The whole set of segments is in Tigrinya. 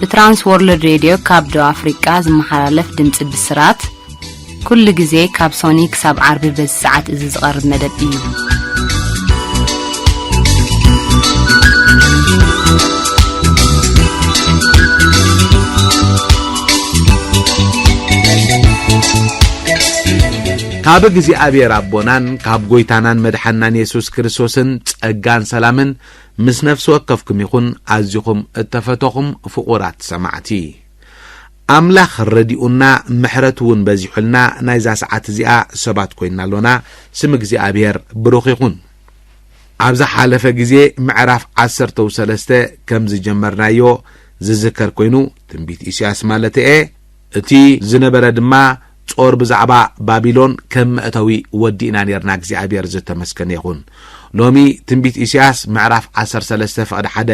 ብትራንስ ወርልድ ሬድዮ ካብ ደቡብ ኣፍሪቃ ዝመሓላለፍ ድምጺ ብስራት ኩሉ ግዜ ካብ ሶኒ ክሳብ ዓርቢ በዚ ሰዓት እዚ ዝቐርብ መደብ እዩ ካብ እግዚኣብሔር ኣቦናን ካብ ጎይታናን መድሓናን የሱስ ክርስቶስን ጸጋን ሰላምን ምስ ነፍሲ ወከፍኩም ይኹን ኣዚኹም እተፈተኹም ፍቑራት ሰማዕቲ። ኣምላኽ ረዲኡና ምሕረቱ እውን በዚሑልና ናይዛ ሰዓት እዚኣ ሰባት ኮይና ኣሎና፣ ስም እግዚኣብሔር ብሩኽ ይኹን። ኣብ ዝሓለፈ ግዜ ምዕራፍ ዓሰርተው ሰለስተ ከም ዝጀመርናዮ ዝዝከር ኮይኑ ትንቢት ኢሳያስ ማለተየ እቲ ዝነበረ ድማ ጾር ብዛዕባ ባቢሎን ከም መእተዊ ወዲእና ኔርና እግዚኣብሔር ዘተመስገነ ይኹን ሎሚ ትንቢት ኢሳያስ ምዕራፍ 13 ፍቕዲ ሓደ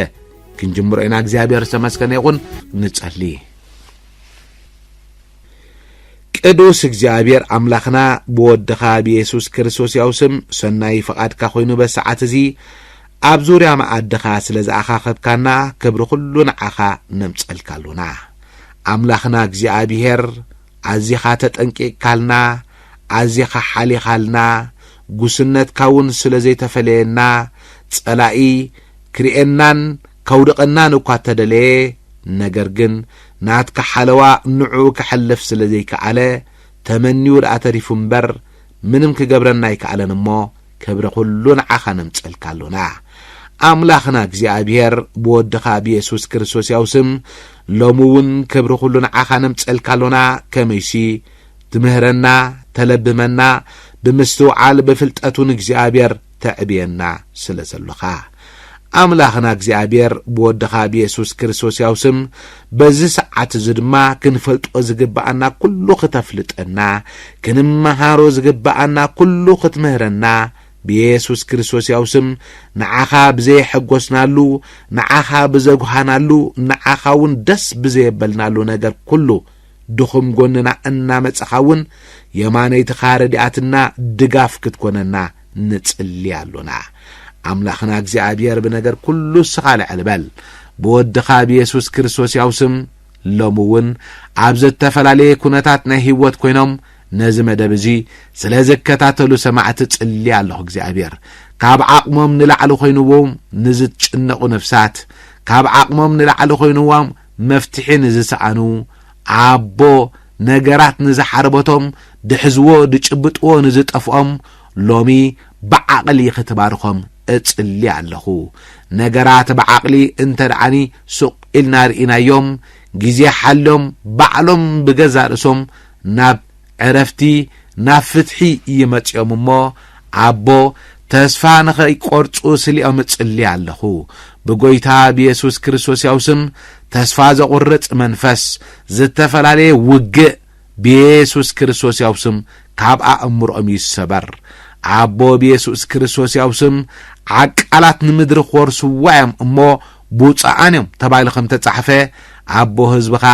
ክንጅምሮ ኢና እግዚኣብሔር ዝተመስገነ ይኹን ንጸሊ ቅዱስ እግዚኣብሔር ኣምላኽና ብወድኻ ብየሱስ ክርስቶስ ያው ስም ሰናይ ፍቓድካ ኮይኑ በሰዓት እዚ ኣብ ዙርያ መኣድኻ ስለ ዝኣኻኸብካና ክብሪ ዅሉ ንዓኻ ነምጸልካ ኣሎና ኣምላኽና እግዚኣብሄር ኣዚኻ ተጠንቂቕካልና፣ ኣዚኻ ሓሊኻልና፣ ጉስነትካውን ስለ ዘይተፈለየና፣ ጸላኢ ክርእየናን ከውድቐናን እኳ እተደለየ፣ ነገር ግን ናትካ ሓለዋ ንዕኡ ከሕልፍ ስለ ዘይከኣለ፣ ተመንዩ ደኣ ተሪፉ እምበር፣ ምንም ክገብረና ኣይከኣለን እሞ ክብሪ ኩሉ ንዓኻ ነምጸልካ ኣሎና ኣምላኽና እግዚኣብሔር ብወድኻ ብየሱስ ክርስቶስ ያው ስም ሎሚ እውን ክብሪ ኩሉ ንዓኻ ነምጸልካ ኣሎና ከመይሲ ትምህረና ተለብመና ብምስትውዓል ብፍልጠቱን እግዚኣብሔር ተዕብየና ስለ ዘሎኻ ኣምላኽና እግዚኣብሔር ብወድኻ ብየሱስ ክርስቶስያው ስም በዚ ሰዓት እዚ ድማ ክንፈልጦ ዝግብኣና ኩሉ ክተፍልጠና ክንመሃሮ ዝግብኣና ኩሉ ክትምህረና ብየሱስ ክርስቶስያው ስም ንዓኻ ብዘየሐጎስናሉ ንዓኻ ብዘጉሃናሉ ንዓኻ እውን ደስ ብዘየበልናሉ ነገር ኩሉ ድኹም ጎንና እናመጸኻ እውን የማነይትኻ ረዲኣትና ድጋፍ ክትኮነና ንጽሊ ኣሎና ኣምላኽና እግዚኣብሔር ብነገር ኩሉ እስኻ ልዕል በል ብወድኻ ብየሱስ ክርስቶስ ያው ስም ሎሚ እውን ኣብ ዘተፈላለየ ኩነታት ናይ ህይወት ኮይኖም ነዚ መደብ እዚ ስለ ዝከታተሉ ሰማዕቲ ጽሊ ኣለኹ እግዚኣብሔር ካብ ዓቕሞም ንላዕሊ ኮይንዎም ንዝትጭነቑ ነፍሳት ካብ ዓቕሞም ንላዕሊ ኮይንዎም መፍትሒ ንዝሰኣኑ፣ ኣቦ ነገራት ንዝሓርበቶም፣ ድሕዝዎ ድጭብጥዎ ንዝጠፍኦም፣ ሎሚ ብዓቕሊ ክትባርኾም እጽሊ ኣለኹ። ነገራት ብዓቕሊ እንተ ደኣኒ ሱቕ ኢልና ርኢናዮም፣ ግዜ ሓልዮም ባዕሎም ብገዛእ ርእሶም ናብ ዕረፍቲ ናብ ፍትሒ እዩ መጺኦም እሞ ኣቦ ተስፋ ንኸይቈርጹ ስሊኦም እጽሊ ኣለኹ ብጐይታ ብየሱስ ክርስቶስ ያው ስም ተስፋ ዘቝርጽ መንፈስ ዝተፈላለየ ውግእ ብየሱስ ክርስቶስ ያው ስም ካብ ኣእምሮኦም ይሰበር ኣቦ ብየሱስ ክርስቶስ ያው ስም ዓቃላት ንምድሪ ክወርስዋ እዮም እሞ ብፁዓን እዮም ተባሂሉ ከም ተጻሕፈ ኣቦ ህዝብኻ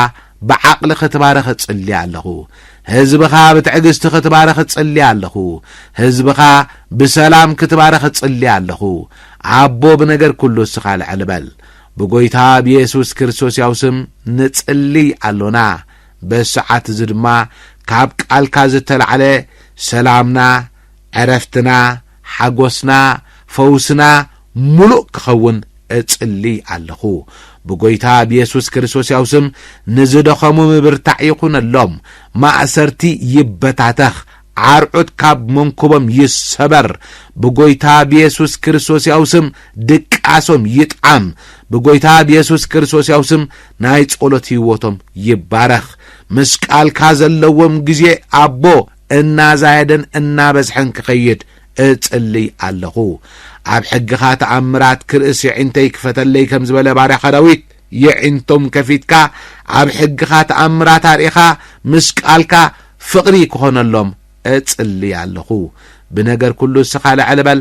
ብዓቕሊ ክትባረኽ እጽሊ ኣለኹ። ህዝብኻ ብትዕግስቲ ክትባረኽ እጽሊ ኣለኹ። ህዝብኻ ብሰላም ክትባረኽ እጽሊ ኣለኹ። ኣቦ ብነገር ኩሉ እስኻ ልዕል በል። ብጎይታ ብየሱስ ክርስቶስ ያው ስም ንጽልይ ኣሎና። በዚ ሰዓት እዚ ድማ ካብ ቃልካ ዝተላዕለ ሰላምና ዕረፍትና፣ ሓጎስና፣ ፈውስና ምሉእ ክኸውን እጽሊ ኣለኹ። ብጎይታ ብየሱስ ክርስቶስያዊ ስም ንዝደኸሙ ምብርታዕ ይኹነሎም፣ ማእሰርቲ ይበታተኽ፣ ዓርዑት ካብ መንኩቦም ይሰበር፣ ብጎይታ ብየሱስ ክርስቶስያዊ ስም ድቃሶም ይጥዓም፣ ብጎይታ ብየሱስ ክርስቶስያዊ ስም ናይ ጸሎት ህይወቶም ይባረኽ። ምስ ቃልካ ዘለዎም ግዜ ኣቦ እናዛየደን እናበዝሐን ክኸይድ እጽልይ ኣለኹ። ኣብ ሕግኻ ተኣምራት ክርእስ የዒንተይ ክፈተለይ ከም ዝበለ ባርያኻ ዳዊት የዒንቶም ከፊትካ ኣብ ሕግኻ ተኣምራት ኣርኢኻ ምስ ቃልካ ፍቕሪ ክኾነሎም እጽልይ ኣለኹ። ብነገር ኩሉ እስኻ ልዕል በል።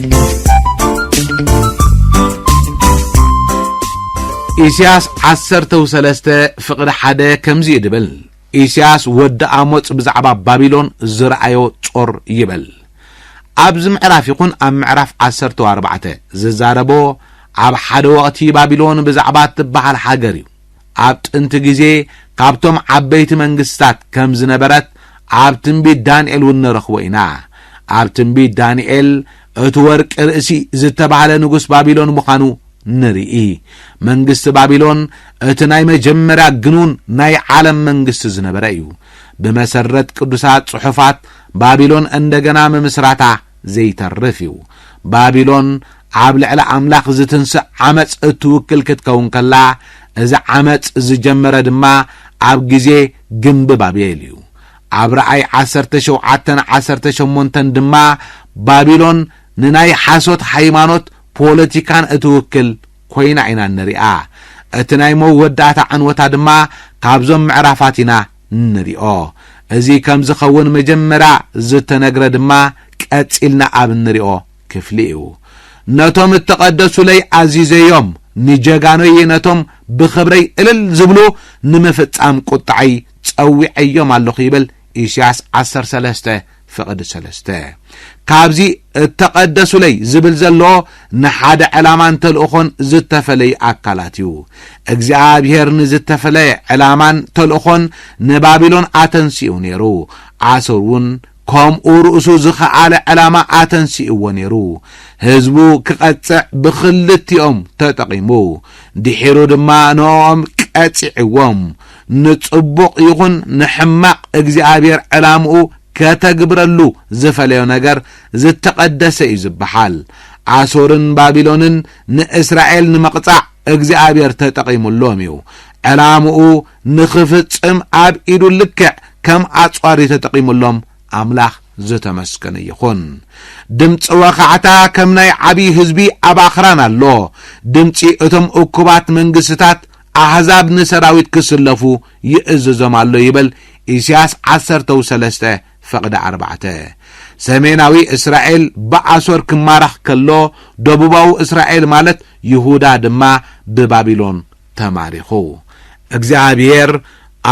ኢስያስ ዓሰርተ ሰለስተ ፍቕዲ ሓደ ከምዚ እዩ ድብል ኢስያስ ወዲ ኣሞጽ ብዛዕባ ባቢሎን ዝረኣዮ ጾር ይበል ኣብዚ ምዕራፍ ይኹን ኣብ ምዕራፍ ዓሰርተ ኣርባዕተ ዝዛረቦ ኣብ ሓደ ወቕቲ ባቢሎን ብዛዕባ እትበሃል ሃገር እዩ ኣብ ጥንቲ ግዜ ካብቶም ዓበይቲ መንግስታት ከም ዝነበረት ኣብ ትንቢት ዳንኤል እውን ንረኽቦ ኢና። ኣብ ትንቢት ዳንኤል እቲ ወርቂ ርእሲ ዝተባህለ ንጉስ ባቢሎን ምዃኑ ንርኢ። መንግስቲ ባቢሎን እቲ ናይ መጀመርያ ግኑን ናይ ዓለም መንግስቲ ዝነበረ እዩ። ብመሰረት ቅዱሳት ጽሑፋት ባቢሎን እንደገና ምምስራታ ዘይተርፍ እዩ። ባቢሎን ኣብ ልዕሊ ኣምላኽ ዝትንስእ ዓመጽ እትውክል ክትከውን ከላ፣ እዚ ዓመጽ ዝጀመረ ድማ ኣብ ግዜ ግምቢ ባቤል እዩ። ኣብ ራእይ ዓሰርተ ሸውዓተን ዓሰርተ ሸሞንተን ድማ ባቢሎን ንናይ ሓሶት ሃይማኖት ፖለቲካን እትውክል ኮይና ኢና እንሪኣ። እቲ ናይ መወዳእታ ዕንወታ ድማ ካብዞም ምዕራፋት ኢና እንሪኦ። እዚ ከም ዝኸውን መጀመርያ ዝተነግረ ድማ ቀጺልና ኣብ እንሪኦ ክፍሊ እዩ። ነቶም እተቐደሱለይ ኣዚዘዮም፣ ንጀጋኑይ ነቶም ብኽብረይ እልል ዝብሉ ንምፍጻም ቁጥዐይ ጸዊዐዮም ኣለኹ ይብል ኢሲያስ ዓሰርተ ሰለስተ ፍቕዲ ሰለስተ ካብዚ እተቐደሱለይ ዝብል ዘሎ ንሓደ ዕላማን ተልእኾን ዝተፈለዩ ኣካላት እዩ። እግዚኣብሄር ንዝተፈለየ ዕላማን ተልእኾን ንባቢሎን ኣተንሲኡ ነይሩ። ኣሶር እውን ከምኡ ርእሱ ዝኸኣለ ዕላማ ኣተንሲእዎ ነይሩ። ህዝቡ ክቐጽዕ ብኽልቲኦም ተጠቒሙ ድሒሩ ድማ ንኦም ቀጺዕዎም። ንጽቡቕ ይኹን ንሕማቕ እግዚኣብሔር ዕላምኡ ከተግብረሉ ዝፈለዮ ነገር ዝተቐደሰ እዩ ዝበሓል። ኣሶርን ባቢሎንን ንእስራኤል ንምቕጻዕ እግዚኣብሔር ተጠቒሙሎም እዩ። ዕላምኡ ንኽፍጽም ኣብ ኢዱ ልክዕ ከም ኣጽዋር እዩ ተጠቒሙሎም ኣምላኽ ዝተመስገነ ይኹን። ድምፂ ወኻዕታ ከም ናይ ዓብዪ ህዝቢ ኣብ ኣኽራን ኣሎ። ድምፂ እቶም እኩባት መንግስትታት ኣህዛብ ንሰራዊት ክስለፉ ይእዝዞም ኣሎ ይበል ኢሲያስ ዓሰርተው ሰለስተ ፈቕደ ኣርባዕተ። ሰሜናዊ እስራኤል ብኣሶር ክማረኽ ከሎ ደቡባዊ እስራኤል ማለት ይሁዳ ድማ ብባቢሎን ተማሪኹ። እግዚኣብሄር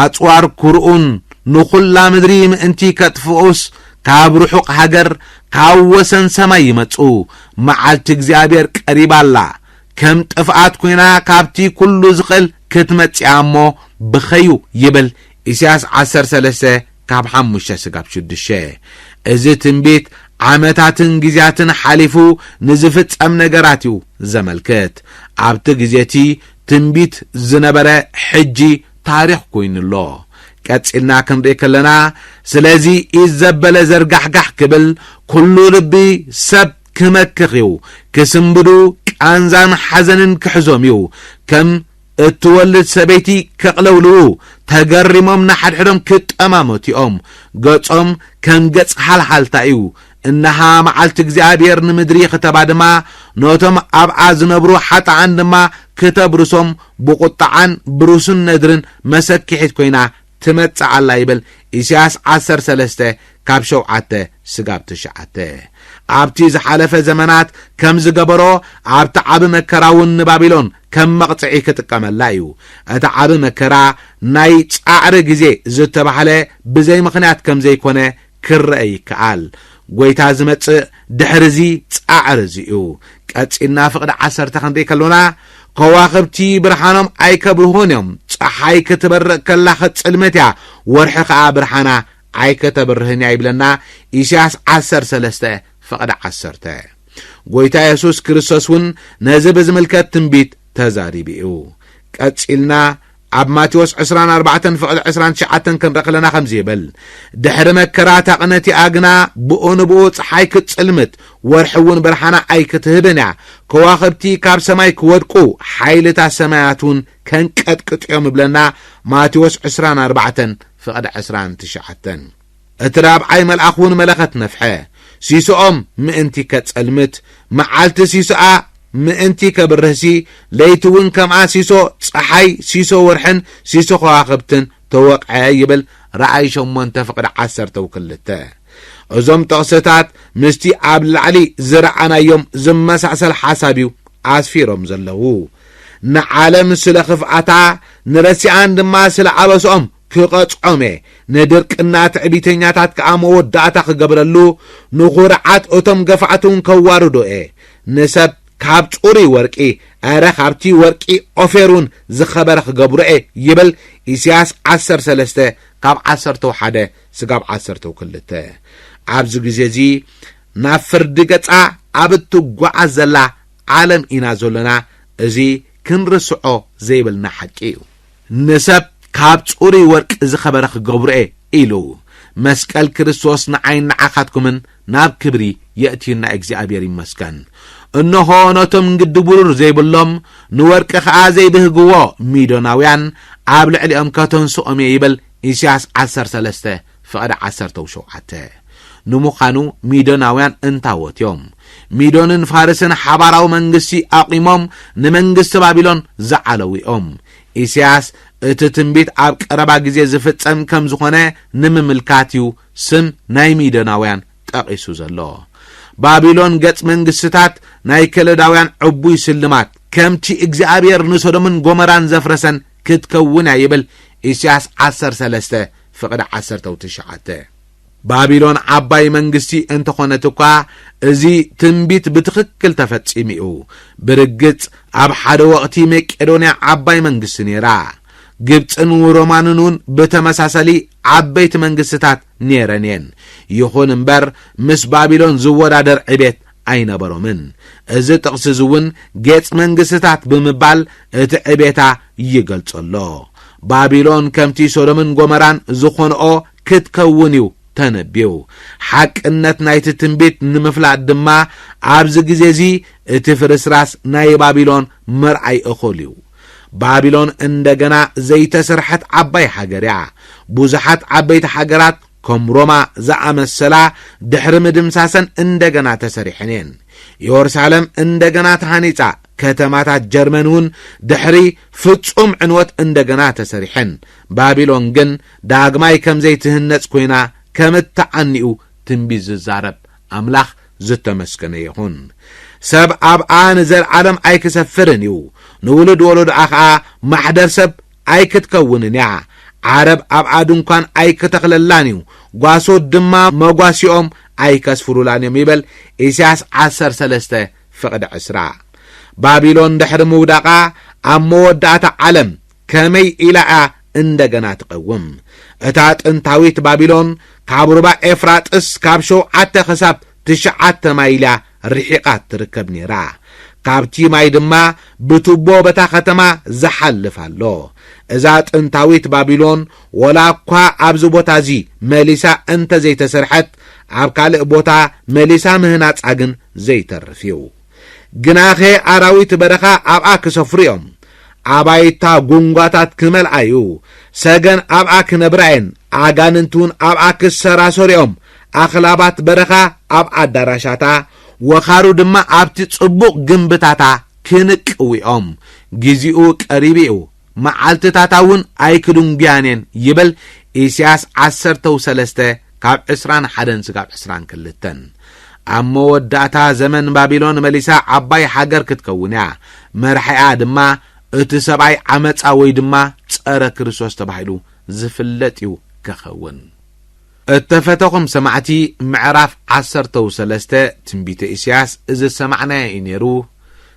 ኣጽዋር ኩርኡን ንኹላ ምድሪ ምእንቲ ከጥፍኡስ ካብ ርሑቕ ሃገር ካብ ወሰን ሰማይ ይመጹ። መዓልቲ እግዚኣብሄር ቀሪባ ኣላ። ከም ጥፍኣት ኮይና ካብቲ ኩሉ ዝኽእል ክትመጽእያ እሞ ብኸዩ ይብል ኢሳያስ ዓሰርተ ሰለስተ ካብ ሓሙሽተ ስጋብ ሽዱሽተ እዚ ትንቢት ዓመታትን ግዜያትን ሓሊፉ ንዝፍጸም ነገራት እዩ ዘመልክት ኣብቲ ግዜ እቲ ትንቢት ዝነበረ ሕጂ ታሪኽ ኮይኑ ኣሎ ቀጺልና ክንርኢ ከለና ስለዚ ኢድ ዘበለ ዘርጋሕጋሕ ክብል ኩሉ ልቢ ሰብ ክመክኽ እዩ፣ ክስንብዱ ቃንዛን ሓዘንን ክሕዞም እዩ፣ ከም እትወልድ ሰበይቲ ከቕለውልዉ፣ ተገሪሞም ንሓድሕዶም ክጠማመቱ እዮም፣ ገጾም ከም ገጽ ሃልሃልታ እዩ፣ እነሃ መዓልቲ እግዚኣብሄር ንምድሪ ክተባድማ፣ ነቶም ኣብኣ ዝነብሩ ሓጥኣን ድማ ክተብርሶም ብቝጥዓን ብርሱን ነድርን መሰኪሒት ኰይና ትመጽእ ኣላ ይብል ኢሳያስ ዓሰርተ ሰለስተ ካብ ሸውዓተ ስጋብ ትሽዓተ። ኣብቲ ዝሓለፈ ዘመናት ከም ዝገበሮ ኣብቲ ዓቢ መከራ እውን ንባቢሎን ከም መቕጽዒ ክጥቀመላ እዩ። እቲ ዓቢ መከራ ናይ ጻዕሪ ግዜ ዝተባህለ ብዘይ ምኽንያት ከም ዘይኮነ ክረኣ ይከኣል። ጎይታ ዝመጽእ ድሕሪ እዚ ጻዕሪ እዚ እዩ። ቀጺልና ፍቕዲ ዓሰርተ ክንርኢ ከሎና ከዋኽብቲ ብርሃኖም ኣይከብርሁን እዮም፣ ጸሓይ ክትበርቕ ከላ ክትጽልመት እያ፣ ወርሒ ከኣ ብርሃና ኣይከተብርህን እያ ይብለና ኢሳያስ ዓሰርተ ሰለስተ ፍቕዲ ዓሰርተ። ጎይታ የሱስ ክርስቶስ እውን ነዚ ብዝምልከት ትንቢት ተዛሪቡ እዩ። ቀጺልና ኣብ ማቴዎስ ዕስራን ኣርባዕተን ፍቕድ ዕስራን ትሽዓተን ክንርኢ ከለና ከምዚ ይብል ድሕሪ መከራ እታ ቅነቲኣ ግና ብኡ ንብኡ ፀሓይ ክትፅልምት ወርሒ እውን ብርሃና ኣይክትህብን እያ ከዋኽብቲ ካብ ሰማይ ክወድቁ ሓይልታት ሰማያት እውን ከንቀጥቅጥ እዮም ይብለና ማቴዎስ ዕስራን ኣርባዕተን ፍቕድ ዕስራን ትሽዓተን እቲ ራብዓይ መልኣኽውን መለኸት ነፍሐ፣ ሲሶኦም ምእንቲ ኬጸልምት፣ መዓልቲ ሲሶኣ ምእንቲ ኬብርህሲ፣ ለይቲውን ከምኣ ሲሶ ጸሓይ፣ ሲሶ ወርሕን ሲሶ ኸዋኽብትን ተወቕዐ ይብል ራእይ ሸሞንተ ፍቕዲ ዓሰርተው ክልተ። እዞም ጥቕስታት ምስቲ ኣብ ላዕሊ ዝረኣናዮም ዝመሳሰል ሓሳብ እዩ ኣስፊሮም ዘለዉ። ንዓለም ስለ ኽፍኣታ፣ ንረሲኣን ድማ ስለ ኣበስኦም ክቐጽዖም'የ፣ ንድርቅና ትዕቢተኛታት ከኣ መወዳእታ ክገብረሉ፣ ንኹርዓት እቶም ገፋዕቲ'ውን ከዋርዶ'የ። ንሰብ ካብ ጽሩይ ወርቂ፣ ኣረ ካብቲ ወርቂ ኦፌር'ውን ዝኸበረ ክገብሮ'የ ይብል ኢሳያስ ዓሰርተ ሰለስተ ካብ ዓሰርተው ሓደ ስጋብ ዓሰርተው ክልተ። ኣብዚ ግዜ'ዚ ናብ ፍርዲ ገጻ ኣብ እትጓዓዝ ዘላ ዓለም ኢና ዘሎና፣ እዚ ክንርስዖ ዘይብልና ሓቂ'ዩ። ንሰብ ካብ ጽሩይ ወርቂ ዝኸበረ ክገብሮ'የ ኢሉ። መስቀል ክርስቶስ ንዓይን ንዓኻትኩምን ናብ ክብሪ የእትዩና እግዚኣብሔር ይመስገን። እንሆ ነቶም ንግዲ ብሩር ዘይብሎም ንወርቂ ከኣ ዘይብህግዎ ሚዶናውያን ኣብ ልዕሊኦም ከተንስኦም'የ ይብል ኢሳያስ ዓሰርተ ሰለስተ። ፍቕዲ ዓሰርተው ሸውዓተ። ንምዃኑ ሚዶናውያን እንታዎት እዮም? ሚዶንን ፋርስን ሓባራዊ መንግስቲ ኣቑሞም ንመንግስቲ ባቢሎን ዝዓለዉ እዮም። ኢሳያስ እቲ ትንቢት ኣብ ቀረባ ግዜ ዝፍጸም ከም ዝኾነ ንምምልካት እዩ ስም ናይ ሚዶናውያን ጠቒሱ ዘሎ። ባቢሎን ገጽ መንግስትታት ናይ ከለዳውያን ዕቡይ ስልማት ከምቲ እግዚኣብሔር ንሶዶምን ጎመራን ዘፍረሰን ክትከውን እያ ይብል ኢሳያስ ዓሰርተ ሰለስተ ፍቕዲ ዓሰርተ ው ትሽዓተ። ባቢሎን ዓባይ መንግስቲ እንተ ዀነት እኳ፣ እዚ ትንቢት ብትኽክል ተፈጺሙ እዩ። ብርግጽ፣ ኣብ ሓደ ወቕቲ መቄዶንያ ዓባይ መንግስቲ ነይራ። ግብጽን ሮማንን እውን ብተመሳሳሊ ዓበይቲ መንግስትታት ነይረን እየን። ይኹን እምበር፣ ምስ ባቢሎን ዝወዳደር ዕቤት ኣይነበሮምን። እዚ ጥቕሲ እዚ እውን ጌጽ መንግስትታት ብምባል እቲ ዕቤታ ይገልጾ ኣሎ። ባቢሎን ከምቲ ሶዶምን ጎመራን ዝኾንኦ ክትከውን እዩ ተነብዩ። ሓቅነት ናይቲ ትንቢት ንምፍላጥ ድማ ኣብዚ ግዜ እዚ እቲ ፍርስራስ ናይ ባቢሎን ምርኣይ እኹል እዩ። ባቢሎን እንደገና ዘይተሰርሐት ዓባይ ሃገር እያ። ብዙሓት ዓበይቲ ሃገራት ከም ሮማ ዝኣመሰላ ድሕሪ ምድምሳሰን እንደገና ተሰሪሐን እየን። የሩሳለም እንደገና ተሃኒጻ፣ ከተማታት ጀርመን እውን ድሕሪ ፍጹም ዕንወት እንደገና ተሰሪሐን። ባቢሎን ግን ዳግማይ ከም ዘይትህነጽ ኮይና ከም እትዓኒ'ዩ ትንቢት ዝዛረብ። ኣምላኽ ዝተመስገነ ይኹን። ሰብ ኣብኣ ንዘልዓለም ኣይክሰፍርን እዩ፣ ንውሉድ ወለዶኣ ኸኣ ማሕደር ሰብ ኣይክትከውንን እያ፣ ዓረብ ኣብኣ ድንኳን ኣይክተኽለላን እዩ፣ ጓሶት ድማ መጓሲኦም ኣይከስፍሩላን እዮም ይበል፣ ኢሳያስ ዓሰርተ ሰለስተ ፍቕዲ ዕስራ። ባቢሎን ድሕሪ ምውዳቓ ኣብ መወዳእታ ዓለም ከመይ ኢላ እያ እንደገና ትቐውም? እታ ጥንታዊት ባቢሎን ካብ ሩባ ኤፍራጥስ ካብ ሸውዓተ ክሳብ ትሽዓተ ማይል'ያ ርሒቓ እትርከብ ነይራ። ካብቲ ማይ ድማ ብቱቦ በታ ከተማ ዝሓልፍ ኣሎ። እዛ ጥንታዊት ባቢሎን ወላ'ኳ ኣብዚ ቦታ'ዚ መሊሳ እንተ ዘይተሰርሐት፣ ኣብ ካልእ ቦታ መሊሳ ምህናጻ ግን ዘይተርፍ'ዩ። ግናኸ ኣራዊት በረኻ ኣብኣ ኪሰፍሩ እዮም፣ ኣባይታ ጕንጓታት ኪመልኣ እዩ፣ ሰገን ኣብኣ ኪነብራ እየን፣ ኣጋንንትውን ኣብኣ ኪሰራሰሩ እዮም፣ ኣኽላባት በረኻ ኣብ ኣዳራሻታ፣ ወኻሩ ድማ ኣብቲ ጽቡቕ ግምብታታ ኪንቅዉ እዮም፣ ጊዜኡ ቀሪቡ እዩ። መዓልትታታ እውን ኣይክድንጒያን እየን ይብል ኢሳያስ ዓሰርተው ሰለስተ ካብ ዕስራን ሓደን ስጋብ ዕስራን ክልተን። ኣብ መወዳእታ ዘመን ባቢሎን መሊሳ ዓባይ ሃገር ክትከውን እያ፣ መራሒኣ ድማ እቲ ሰብኣይ ዓመጻ ወይ ድማ ጸረ ክርስቶስ ተባሂሉ ዝፍለጥ እዩ ከኸውን። እተፈተኹም ሰማዕቲ ምዕራፍ ዓሰርተው ሰለስተ ትንቢተ ኢሳያስ እዚ ዝሰማዕናዮ እዩ ነይሩ፣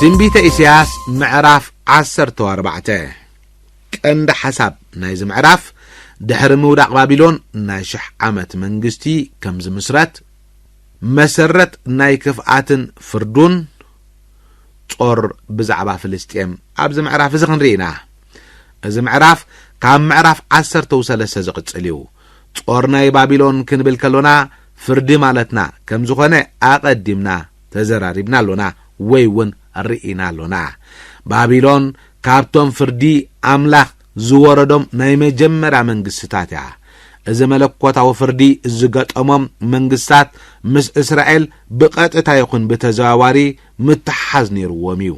ትንቢተ ኢሳያስ ምዕራፍ 14 ቀንዲ ሓሳብ ናይዚ ምዕራፍ ድሕሪ ምውዳቕ ባቢሎን ናይ ሽሕ ዓመት መንግስቲ ከም ዝምስረት መሰረት ናይ ክፍኣትን ፍርዱን ጾር ብዛዕባ ፍልስጤም ኣብዚ ምዕራፍ እዚ ክንርኢ ኢና። እዚ ምዕራፍ ካብ ምዕራፍ ዓሰርተው ሰለስተ ዝቕጽል እዩ። ጾር ናይ ባቢሎን ክንብል ከሎና ፍርዲ ማለትና ከም ዝኾነ ኣቐዲምና ተዘራሪብና ኣሎና ወይ እውን ርኢና ኣሎና። ባቢሎን ካብቶም ፍርዲ ኣምላኽ ዝወረዶም ናይ መጀመርያ መንግስትታት እያ። እዚ መለኮታዊ ፍርዲ ዝገጠሞም መንግስታት ምስ እስራኤል ብቐጥታ ይኹን ብተዘዋዋሪ ምትሕሓዝ ነይርዎም እዩ።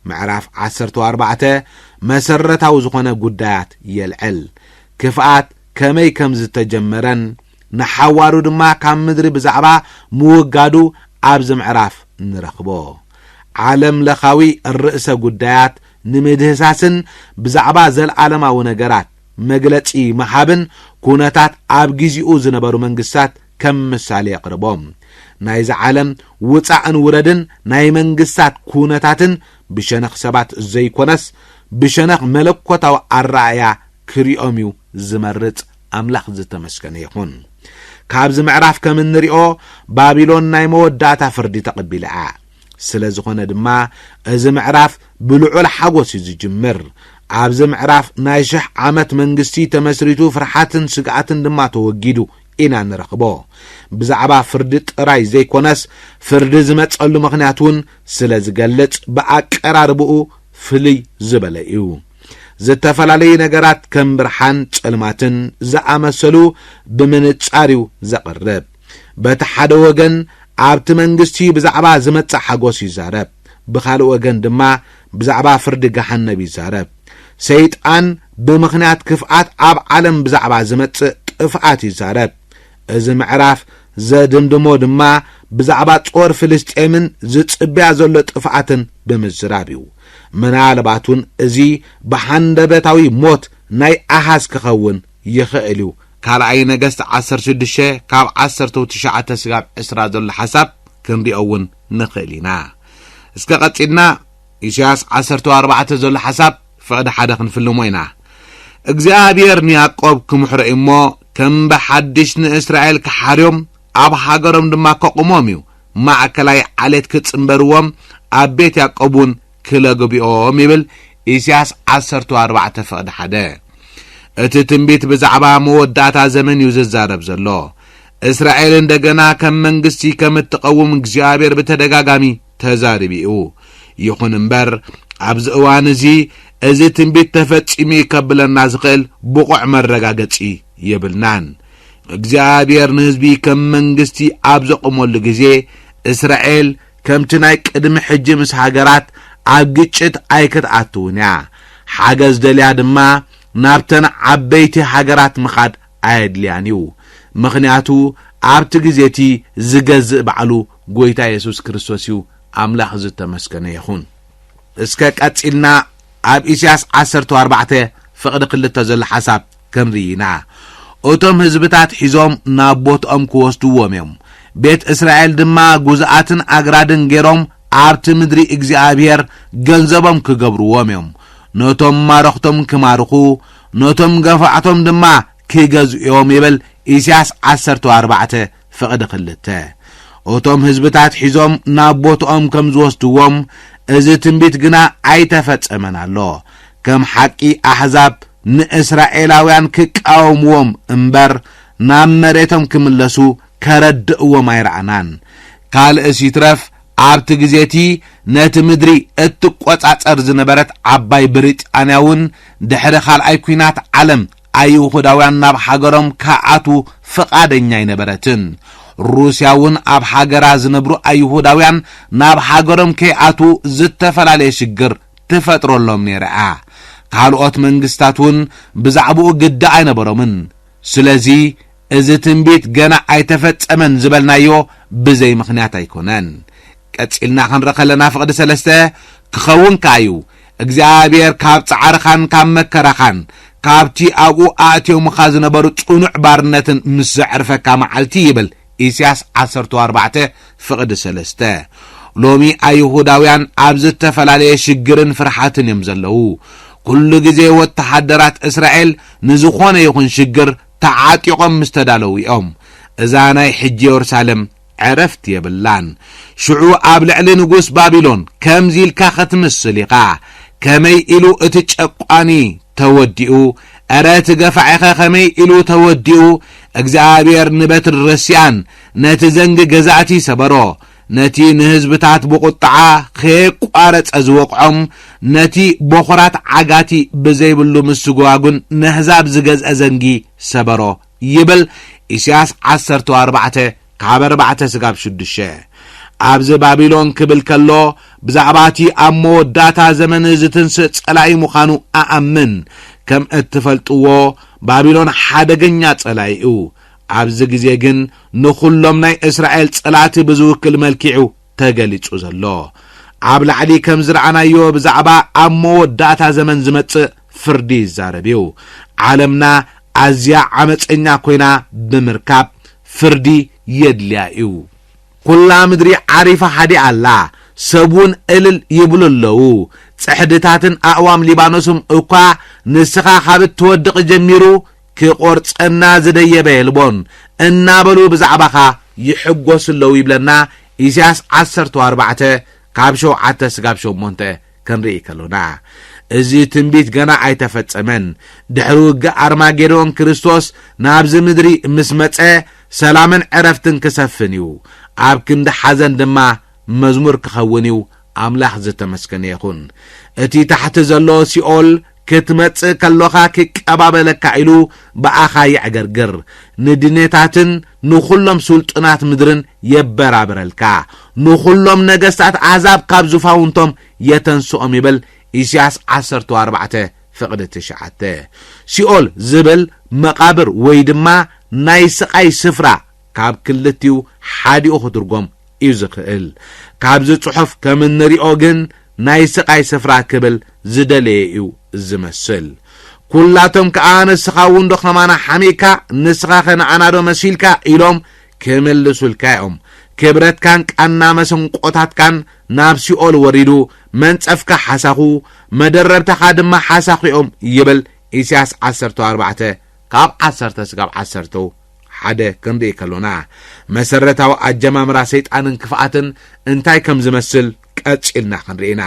ምዕራፍ ዓሰርተው ኣርባዕተ መሰረታዊ ዝኾነ ጉዳያት የልዕል። ክፍኣት ከመይ ከም ዝተጀመረን ንሓዋሩ ድማ ካብ ምድሪ ብዛዕባ ምውጋዱ ኣብዚ ምዕራፍ ንረኽቦ። ዓለም ለኻዊ ርእሰ ጉዳያት ንምድህሳስን ብዛዕባ ዘልኣለማዊ ነገራት መግለጺ ምሃብን ኩነታት ኣብ ግዜኡ ዝነበሩ መንግስታት ከም ምሳሌ የቕርቦ። ናይዛ ዓለም ውጻእን ውረድን ናይ መንግስታት ኩነታትን ብሸነኽ ሰባት ዘይኮነስ ብሸነኽ መለኮታዊ ኣረኣእያ ክሪኦም እዩ ዝመርጽ ኣምላኽ ዝተመስገነ ይኹን። ካብዚ ምዕራፍ ከም እንሪኦ ባቢሎን ናይ መወዳእታ ፍርዲ ተቐቢላ እያ። ስለ ዝኾነ ድማ እዚ ምዕራፍ ብልዑል ሓጎስ እዩ ዝጅምር። ኣብዚ ምዕራፍ ናይ ሽሕ ዓመት መንግስቲ ተመስሪቱ ፍርሓትን ስግኣትን ድማ ተወጊዱ ኢና ንረኽቦ። ብዛዕባ ፍርዲ ጥራይ ዘይኮነስ ፍርዲ ዝመጸሉ ምኽንያት እውን ስለ ዝገልጽ ብኣቀራርብኡ ፍልይ ዝበለ እዩ። ዝተፈላለዩ ነገራት ከም ብርሓን ጸልማትን ዝኣመሰሉ ብምንጻር እዩ ዘቕርብ። በቲ ሓደ ወገን ኣብቲ መንግስቲ ብዛዕባ ዝመጽእ ሓጎስ ይዛረብ፣ ብኻልእ ወገን ድማ ብዛዕባ ፍርዲ ገሃነብ ይዛረብ። ሰይጣን ብምኽንያት ክፍኣት ኣብ ዓለም ብዛዕባ ዝመጽእ ጥፍኣት ይዛረብ። እዚ ምዕራፍ ዘድምድሞ ድማ ብዛዕባ ጾር ፍልስጤምን ዝጽብያ ዘሎ ጥፍኣትን ብምዝራብ እዩ። ምናልባት እውን እዚ ብሃንደበታዊ ሞት ናይ ኣሃዝ ክኸውን ይኸእል እዩ። ካልኣይ ነገስት ዓሰርተ ሽዱሽተ ካብ ዓሰርተው ትሽዓተ ስጋብ ዕስራ ዘሎ ሓሳብ ክንሪኦ እውን ንኸእል ኢና። እስከ ቀጺልና ኢሳያስ ዓሰርተው ኣርባዕተ ዘሎ ሓሳብ ፍቕዲ ሓደ ክንፍልሞ ኢና። እግዚኣብሔር ንያዕቆብ ክምሕሮ እዩ እሞ ከም ብሓድሽ ንእስራኤል ክሓርዮም ኣብ ሃገሮም ድማ ከቑሞም እዩ። ማእከላይ ዓሌት ክጽንበርዎም ኣብ ቤት ያዕቆብ እውን ክለ ግቢኦም ይብል ኢሲያስ ዓሰርተው ኣርባዕተ ፍቕዲ ሓደ እቲ ትንቢት ብዛዕባ መወዳእታ ዘመን እዩ ዝዛረብ ዘሎ እስራኤል እንደገና ከም መንግስቲ ከም እትቐውም እግዚኣብሔር ብተደጋጋሚ ተዛሪቡ እዩ ይኹን እምበር ኣብዚ እዋን እዚ እዚ ትንቢት ተፈጺሙ እዩ ከብለና ዝኽእል ብቑዕ መረጋገጺ የብልናን እግዚኣብሔር ንህዝቢ ከም መንግስቲ ኣብ ዘቑመሉ ግዜ እስራኤል ከምቲ ናይ ቅድሚ ሕጂ ምስ ሃገራት ኣብ ግጭት ኣይክትኣትውን እያ። ሓገዝ ደልያ ድማ ናብተን ዓበይቲ ሃገራት ምኻድ ኣየድልያን እዩ። ምኽንያቱ ኣብቲ ግዜ እቲ ዝገዝእ ባዕሉ ጎይታ የሱስ ክርስቶስ እዩ፣ ኣምላኽ ዝተመስገነ ይኹን። እስከ ቀጺልና ኣብ ኢሳያስ ዓሰርተ ኣርባዕተ ፍቕዲ ክልተ ዘሎ ሓሳብ። ከምዚ ኢና እቶም ህዝብታት ሒዞም ናብ ቦትኦም ክወስድዎም እዮም፣ ቤት እስራኤል ድማ ጉዝኣትን ኣግራድን ገይሮም ኣብቲ ምድሪ እግዚኣብሄር ገንዘቦም ክገብርዎም እዮም፣ ነቶም ማረኽቶም ክማርኹ፣ ነቶም ገፋዕቶም ድማ ክገዝኡ እዮም ይብል ኢሳያስ ዓሰርተ ኣርባዕተ ፍቕዲ ክልተ። እቶም ህዝብታት ሒዞም ናብ ቦትኦም ከም ዝወስድዎም እዚ ትንቢት ግና ኣይተፈጸመን ኣሎ፣ ከም ሓቂ ኣሕዛብ ንእስራኤላውያን ክቃወምዎም እምበር ናብ መሬቶም ክምለሱ ከረድእዎም ኣይረኣናን። ካልእስ ይትረፍ ኣብቲ ግዜ እቲ ነቲ ምድሪ እትቈጻጸር ዝነበረት ዓባይ ብሪጣንያ እውን ድሕሪ ካልኣይ ኲናት ዓለም ኣይሁዳውያን ናብ ሃገሮም ክኣትዉ ፍቓደኛ ኣይነበረትን። ሩስያ እውን ኣብ ሃገራ ዝነብሩ ኣይሁዳውያን ናብ ሃገሮም ከይኣትዉ ዝተፈላለየ ሽግር ትፈጥረሎም ነይራ እያ። ካልኦት መንግስታት እውን ብዛዕባኡ ግዲ ኣይነበሮምን። ስለዚ እዚ ትንቢት ገና ኣይተፈጸመን ዝበልናዮ ብዘይ ምኽንያት ኣይኮነን። ቀጺልና ክንርኢ ከለና ፍቕዲ ሰለስተ ክኸውን ከኣ እዩ፣ እግዚኣብሔር ካብ ጻዕርኻን ካብ መከራኻን ካብቲ ኣብኡ ኣእትዮምኻ ዝነበሩ ጽኑዕ ባርነትን ምስ ዘዕርፈካ መዓልቲ ይብል ኢስያስ ዓሰርተው ኣርባዕተ ፍቕዲ ሰለስተ ሎሚ ኣይሁዳውያን ኣብ ዝተፈላለየ ሽግርን ፍርሓትን እዮም ዘለዉ። ኩሉ ግዜ ወተሃደራት እስራኤል ንዝኾነ ይኹን ሽግር ተዓጢቖም ምስ ተዳለዉ እዮም። እዛ ናይ ሕጂ የሩሳለም ዕረፍቲ የብላን። ሽዑ ኣብ ልዕሊ ንጉስ ባቢሎን ከምዚ ኢልካ ክትምስል ኢኻ፣ ከመይ ኢሉ እቲ ጨቋኒ ተወዲኡ፣ እረ እቲ ገፋዒኸ ከመይ ኢሉ ተወዲኡ እግዚኣብሔር ንበትሪ ረሲኣን ነቲ ዘንጊ ገዛእቲ ሰበሮ ነቲ ንህዝብታት ብቁጥዓ ከየቋረጸ ዝወቅዖም ነቲ ቦኹራት ዓጋቲ ብዘይብሉ ምስጓጉን ነህዛብ ዝገዝአ ዘንጊ ሰበሮ ይብል ኢሳያስ ዓሰርተ ኣርባዕተ ካብ ኣርባዕተ ስጋብ ሽዱሽተ። ኣብዚ ባቢሎን ክብል ከሎ ብዛዕባ እቲ ኣብ መወዳእታ ዘመን ዝትንስእ ጸላኢ ምዃኑ እኣምን። ከም እትፈልጥዎ ባቢሎን ሓደገኛ ጸላኢ እዩ። ኣብዚ ግዜ ግን ንኹሎም ናይ እስራኤል ጸላእቲ ብዝውክል መልኪዑ ተገሊጹ ዘሎ። ኣብ ላዕሊ ከም ዝረኣናዮ ብዛዕባ ኣብ መወዳእታ ዘመን ዝመጽእ ፍርዲ ይዛረብ እዩ። ዓለምና ኣዝያ ዓመጸኛ ኮይና ብምርካብ ፍርዲ የድልያ እዩ። ኩላ ምድሪ ዓሪፋ ሃዲኣ ኣላ፣ ሰብውን እልል ይብሉ ኣለዉ፣ ጽሕድታትን ኣእዋም ሊባኖስም እኳ ንስኻ ካብ እትወድቕ ጀሚሩ ክቆርጸና ዝደየበ የልቦን እናበሉ ብዛዕባኻ ይሕጎሱ ኣለዉ ይብለና ኢሳያስ ዓሰርተ ኣርባዕተ ካብ ሸውዓተ ስጋብ ሸሞንተ ክንርኢ ከሎና እዚ ትንቢት ገና ኣይተፈጸመን ድሕሪ ውግእ ኣርማጌዶን ክርስቶስ ናብዚ ምድሪ ምስ መጸ ሰላምን ዕረፍትን ክሰፍን እዩ ኣብ ክንዲ ሓዘን ድማ መዝሙር ክኸውን እዩ ኣምላኽ ዝተመስገነ ይኹን እቲ ታሕቲ ዘሎ ሲኦል ክትመጽእ ከሎኻ ኪቀባበለካ ኢሉ ብኣኻ የዕገርግር፣ ንድኔታትን ንዅሎም ስልጡናት ምድርን የበራብረልካ፣ ንዅሎም ነገስታት ኣህዛብ ካብ ዙፋውንቶም የተንስኦም ይብል፣ ኢሳይያስ ዓሰርተው ኣርባዕተ ፍቕዲ ትሽዓተ። ሲኦል ዝብል መቓብር ወይ ድማ ናይ ስቓይ ስፍራ፣ ካብ ክልቲኡ ሓዲኡ ክትርጎም እዩ ዝኽእል። ካብዚ ጽሑፍ ከም እንሪኦ ግን ናይ ስቓይ ስፍራ ክብል ዝደለየ እዩ ዝመስል። ኩላቶም ከኣ ንስኻ እውን ዶ ከማና ሓሚእካ ንስኻኸ ንኣና ዶ መሲልካ ኢሎም ክምልሱልካ እዮም። ክብረትካን ቃና መሰንቆታትካን ናብ ሲኦል ወሪዱ መንጸፍካ ሓሳኹ መደረብታኻ ድማ ሓሳኹ እዮም ይብል ኢሳያስ ዓሰርተ ኣርባዕተ ካብ ዓሰርተ ስጋብ ዓሰርተው ሓደ ክንርኢ ከሎና መሰረታዊ ኣጀማምራ ሰይጣንን ክፍኣትን እንታይ ከም ዝመስል ቀጺልና ክንርኢ ኢና።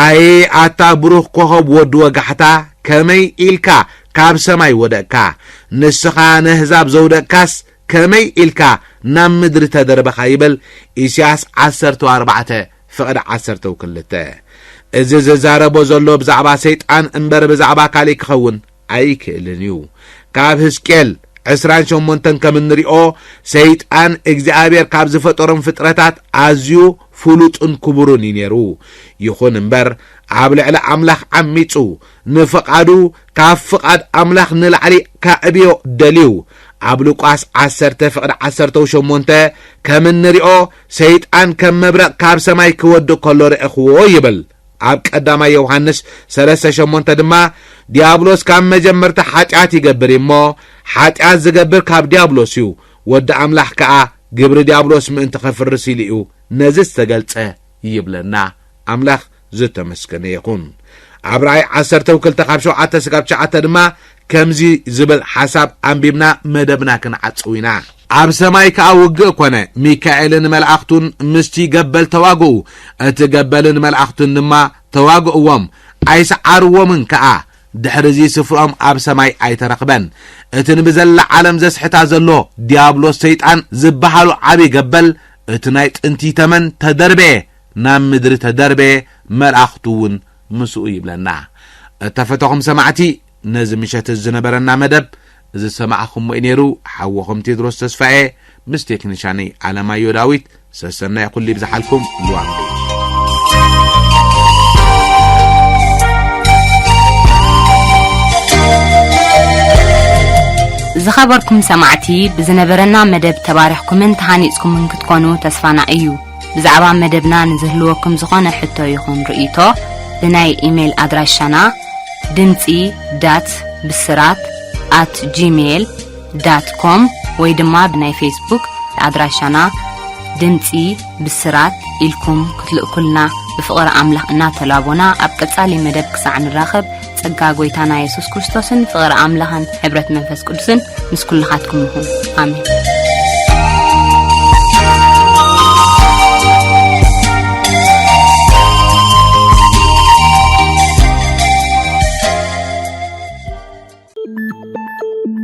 ኣየ ኣታ ብሩኽ ኮኸብ ወዲ ወጋሕታ ከመይ ኢልካ ካብ ሰማይ ወደቅካ፣ ንስኻ ነህዛብ ዘውደቅካስ ከመይ ኢልካ ናብ ምድሪ ተደርበኻ ይብል ኢሲያስ ዓሰርተው ኣርባዕተ ፍቕድ ዓሰርተው ክልተ። እዚ ዝዛረቦ ዘሎ ብዛዕባ ሰይጣን እምበር ብዛዕባ ካሊእ ክኸውን ኣይክእልን እዩ። ካብ ህዝቅኤል ዕስራን ሸሞንተን ከም እንሪኦ ሰይጣን እግዚኣብሔር ካብ ዝፈጠሮም ፍጥረታት ኣዝዩ ፍሉጥን ክቡርን እዩ ነይሩ። ይኹን እምበር ኣብ ልዕሊ ኣምላኽ ዓሚፁ ንፍቓዱ ካብ ፍቓድ ኣምላኽ ንላዕሊ ከዕብዮ ደልዩ። ኣብ ሉቃስ ዓሰርተ ፍቕዲ ዓሰርተው ሸሞንተ ከም እንሪኦ ሰይጣን ከም መብረቕ ካብ ሰማይ ክወድቕ ከሎ ረእኽዎ ይብል። ኣብ ቀዳማይ ዮውሃንስ ሰለስተ ሸሞንተ ድማ ዲያብሎስ ካብ መጀመርታ ሓጢኣት ይገብር እዩ እሞ ሓጢኣት ዝገብር ካብ ዲያብሎስ እዩ ወዲ ኣምላኽ ከኣ ግብሪ ዲያብሎስ ምእንቲ ኸፍርስ ኢሉ እዩ ነዚ ዝተገልጸ ይብለና ኣምላኽ ዝተመስገነ ይኹን ኣብ ራእይ ዓሰርተው ክልተ ካብ ሸውዓተ ስጋብ ትሽዓተ ድማ ከምዚ ዝብል ሓሳብ ኣንቢብና መደብና ክንዓጽው ኢና። ኣብ ሰማይ ከኣ ውግእ ኮነ፣ ሚካኤልን መላእኽቱን ምስቲ ገበል ተዋግኡ፣ እቲ ገበልን መላእኽቱን ድማ ተዋግእዎም፣ ኣይሰዓርዎምን ከኣ፣ ድሕርዚ ስፍርኦም ኣብ ሰማይ ኣይተረኽበን። እቲ ንብዘላ ዓለም ዘስሕታ ዘሎ ዲያብሎስ ሰይጣን ዝበሃሉ ዓቢ ገበል፣ እቲ ናይ ጥንቲ ተመን ተደርበየ፣ ናብ ምድሪ ተደርበየ፣ መላእኽቱ እውን ምስኡ ይብለና። እተፈተኹም ሰማዕቲ ነዚ ምሸት እዚ ዝነበረና መደብ ዝሰማዕኹምዎ'ዩ ነይሩ። ሓወኹም ቴድሮስ ተስፋ'የ ምስ ቴክኒሻነይ ኣለማዮ ዳዊት። ሰሰናዩ ኩሉ ይብዝሓልኩም። ልዋም ቤት ዝኸበርኩም ሰማዕቲ ብዝነበረና መደብ ተባሪኽኩምን ተሃኒጽኩምን ክትኮኑ ተስፋና እዩ። ብዛዕባ መደብና ንዝህልወኩም ዝኾነ ሕቶ ይኹን ርእይቶ ብናይ ኢሜል ኣድራሻና ድምጺ ዳት ብስራት ኣት ጂሜል ዳት ኮም ወይ ድማ ብናይ ፌስቡክ ኣድራሻና ድምፂ ብስራት ኢልኩም ክትልእኩልና ብፍቕሪ ኣምላኽ እናተላቦና ኣብ ቀጻሊ መደብ ክሳዕ ንራኸብ ጸጋ ጎይታና የሱስ ክርስቶስን ፍቕሪ ኣምላኽን ሕብረት መንፈስ ቅዱስን ምስ ኩልኻትኩም ይኹን ኣሜን